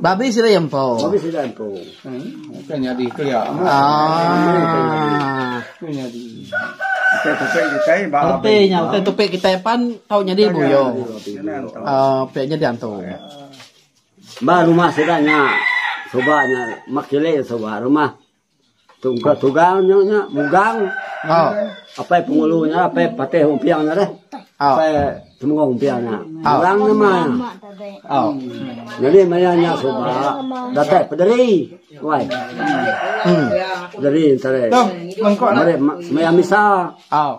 Babi sida empu. Ke nyadi kelia. Reti nya utai tupi kitai pan tau nyadi buyo. Pe nyadi antu. Ba rumah sida nya suba nya mak chili suba rumah. Tugal-tugal nya nya mugang oh. apai pengulu nya apai patih umpiang nya deh. Oh. Apai temenggung umpiang nya. Oh. Mugang nya mah. Oh. Jadi maya nya suba datai pederi. Wai. Hmm. Pederi entare. Mari semaya misa. Oh.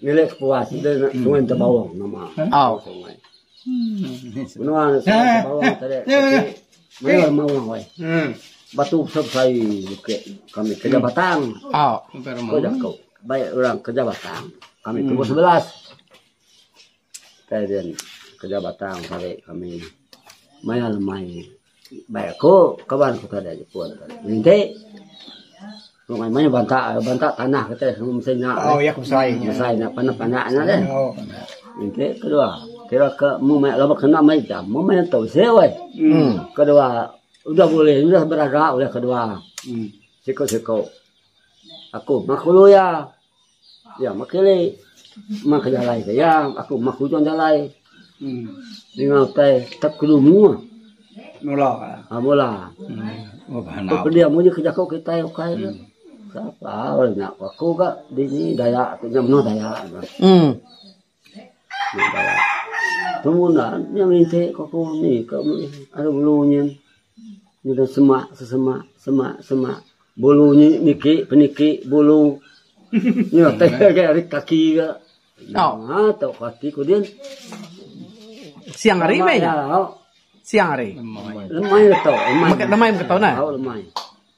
Nilai kepuas sida nya Sungai Entebawang nama sungai. Menua Sungai Entebawang tadi maya lema orang weh. Batu besai besai bukit kami kerja batang. Ko jaku baik orang kerja batang kami tubuh sebelas. Kita yen kerja batang sehari kami maya lemai bai aku kaban ku tadi jepun nginti wang maya banta banta tanah kitai mesti nya besai nya panak panak nya deh nginti kedua kira ke mung maya laba kena meh ija mung maya tu bisi weh kedua udah bulih udah beraga kedua siku siku aku maku lawyer. Iya makili meh ke jalai ke iya aku meh ke ujung jalai ninga utai tep ke dumu mula ke pedi amu ji ke jaku kitai ukai ne nya ku aku ga dini dayak tu nya menoh dayak ne. Temu enda nya minta ko ko ni ka meh ari ulu nyin nyudah semak sesemak semak semak bulu nyi niki peniki bulu nya teh ngagai ari kaki ga nya tu kaki ku din. Siang hari meh nya. Siang hari. Lemai tu. Lemai mega tau nah. Lemai.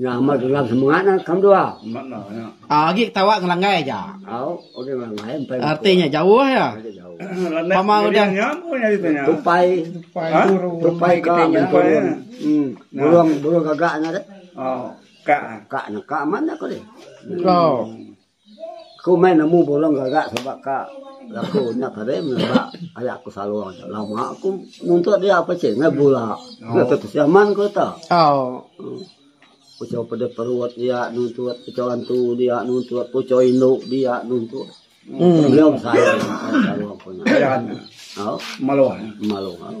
Nya amat gelam semengat nah ke menua. Ah agi ketawa ngelanggai aja. Au udah ngelanggai empai buku. Arti nya jauh ya. Pama udah tupai tupai ha? tupai ke menturun. Hmm. Burung burung gagak nya deh. Oh, kak. Kak nak kak mana kau deh. Oh. Aku meh nemu burung gaga sebab ka laku nya tadi ba aya ku salong tu lama ku muntok dia pachin ngai bula ngai tau tusi aman ku ita. Puchau peda perut dia nuntut puchau antu dia nuntut puchau indu dia nuntut. Meliau besayang salong ku nya. Au malu malu au.